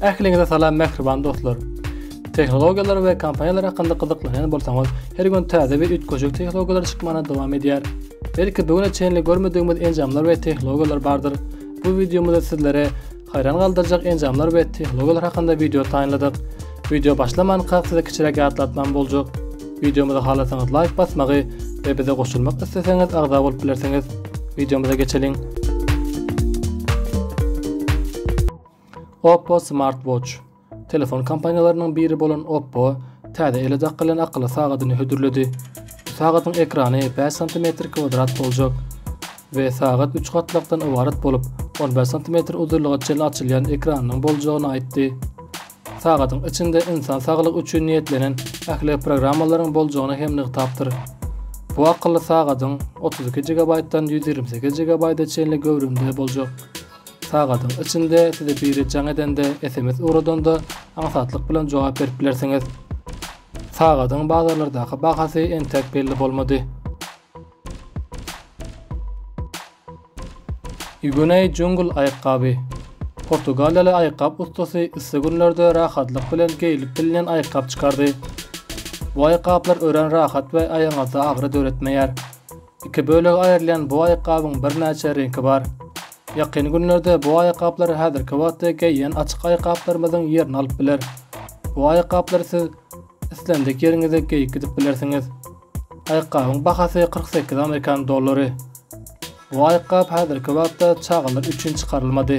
Ähliňize salam mähriban dostlar. Tehnologiýalar we kompaniýalar hakynda gyzyklanýan bolsaňyz, her gün täze we üýtgeşik tehnologiýalar çykmana dowam edýär. Belki bu güne çenli görmedigimiz enjamlar we tehnologiýalar bardyr. Bu wideomyzda sizlere Haýran galdyrjak enjamlar we tehnologiýalar hakynda wideo taýynladyk. Wideo başlamankak size kiçiräk ýatlatmam boljak. Wideomyza halasaňyz laýk basmagy we bize goşulmak isleseňiz agza bolup bilersiňiz. Wideomyza geçeliň. Oppo Smart Watch. Telefon kompaniýalarynyň biri bolan Oppo täze ele dakylýan akylly sagadyny hödürledi. Sagadyň ekrany bäş santimetr kwadrat boljak we sagat üç gatlakdan ybarat bolup, on bäş santimetr uzynlyga çenli açylýan ekranynyň boljagyny aýtdy. Sagadyň içinde ynsan saglygy üçin niýetlenen ähli programmalaryň boljagyny hem nygtapdyr. Bu akylly sagadyň otuz iki gigabaýtdan ýüz ýigrimi sekiz gigabaýta çenli göwrümde boljak. Sagadyň içinde size biri jaň edende, sms ugradanda aňsatlyk bilen jogap berip bilersiňiz. Sagadyň bazarlardaky bahasy entek belli bolmady. Igunei Jungle aýakgaby. Portugaliýaly aýakgap ussasy yssy günlerde rahatlyk bilen geýlip bilinen aýakgap çykardy. Bu aýakgaplar örän rahat we aýagyňyzda agyry döretmeýär. Iki bölege aýrylýan bu aýakgabyň birnäçe reňki bar. Ýakyn günlerde bu aýakgaplar häzirki wagtda geýýän açyk aýakgaplarymyzyň ýerini alyp biler. Bu aýakgaplary siz islendik ýeriňize geýip gidip bilersiňiz. Aýakgabyň bahasy kyrk sekiz amerikan dollary. Bu aýakgap häzirki wagtda çagalar üçin çykarylmady.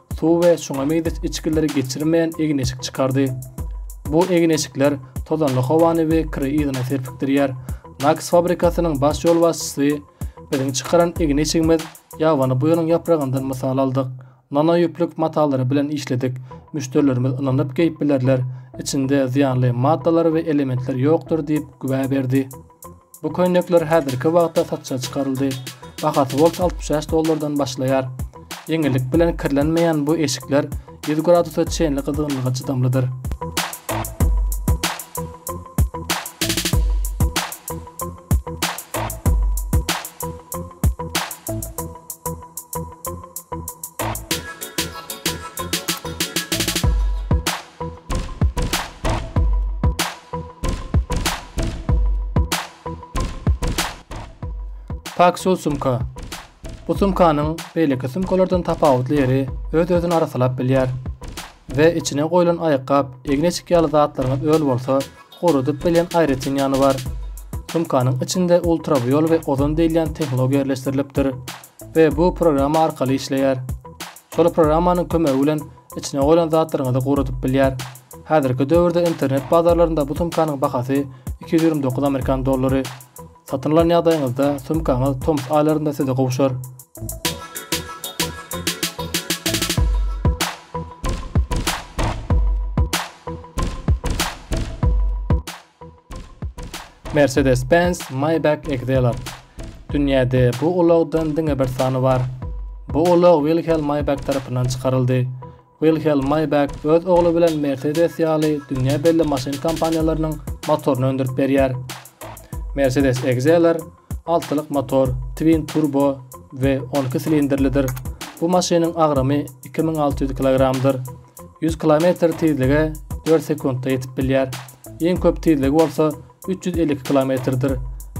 suw we şuňa meňzeş içgileri geçirmeýän egin-eşik çykardy. Bu egin-eşikler tozanly howany we kiri yzyna serpikdirýär. Naks fabrikasynyň baş ýolbaşçysy, Biziň çykaran egin-eşigimiz ýabany buýanyň ýapragyndan mysal aldyk. Nano ýüplük matalary bilen işledik. Müşderilerimiz ynanyp geýip bilerler. Içinde zyýanly maddalar we elementler ýokdur diýip güwä berdi. Bu köýnekler häzirki wagtda satja çykaryldy. Bahasy bols altmyş bäş dollardan başlaýar. Ýeňillik bilen kirlenmeýän bu eşikler ýüz gradusa çenli gyzgynlyga çydamlydyr. Paksol sumka. Bu sumkanyň beýleki sumkalardan tapawutly ýeri öz-özüni arassalap bilýär we içine goýlan aýakgap, egneçik ýaly zatlaryňyz öl bolsa, guradyp bilýän aýratyn ýany bar. Sumkanyň içinde ultrawiol we ozon diýilýän tehnologiýa ýerleşdirilipdir we bu programma arkaly işleýär. Şol programmanyň kömegi bilen içine goýlan zatlaryňyzy guradyp bilýär. Häzirki döwürde internet bazarlarynda bu sumkanyň bahasy iki ýüz ýigrimi dokuz amerikan dollary. Satyn alan ýagdaýyňyzda sumkaňyz tomus aýlarynda size gowşar. Mercedes-Benz Maybach Exelar. Dünýäde bu ulagdan diňe bir sany bar. Bu ulag Wilhelm Maybach tarapyndan çykaryldy. Wilhelm Maybach öz ogly bilen Mercedes ýaly dünýä belli maşyn kompaniýalarynyň motoryny öndürip berýär. Mercedes Exelar Altylyk motor, twin turbo we on iki silindrlidir. Bu maşynyň agramy iki müň alty ýüz kilogramdyr. Ýüz kilometr tizlige dört sekuntda ýetip bilýär. Iň köp tizligi bolsa üç ýüz elli iki kilometrdir.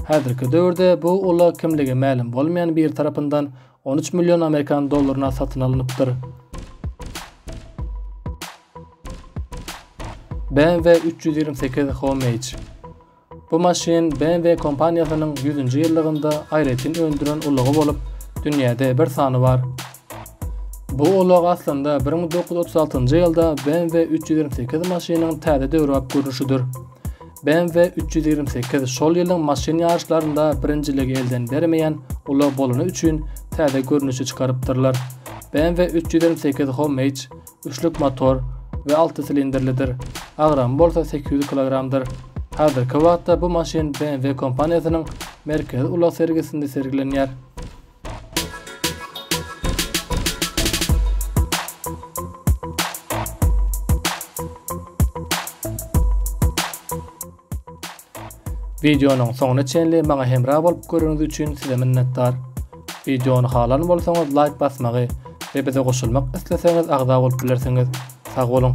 Häzirki döwürde bu ulag kimligi mälim bolmaýan biri tarapyndan on üç million amerikan dollaryna satyn alnypdyr. BMW üç ýüz ýigrimi sekiz Homage Bu maşyn BMW kompaniýasynyň ýüzünji ýyllygynda aýratyn öndüren ulagy bolup, dünýäde bir sany bar. Bu ulag aslynda bir müň dokuz ýüz otuz altynjy ýylda BMW üç ýüz ýigrimi sekiz maşynyň täze döwrebap görnüşidir. BMW üç ýüz ýigrimi sekiz şol ýylyň maşyn ýaryşlarynda birinjiligi elden bermeýän ulag bolany üçin täze görnüşi çykarypdyrlar. BMW üç ýüz ýigrimi sekiz Homage Üçlük motor we alty silindrlidir. Agramy bolsa sekiz ýüz kilogramdyr. Häzirki wagtda bu maşyn BMW kompaniýasynyň Merkezi ulag sergisinde sergilenýär. Wideonyň soňuna çenli maňa hemra bolup göreniňiz üçin size minnetdar. Wideony halan bolsaňyz laýk basmagy we bize goşulmak isleseňiz agza bolup bilersiňiz. Sag boluň!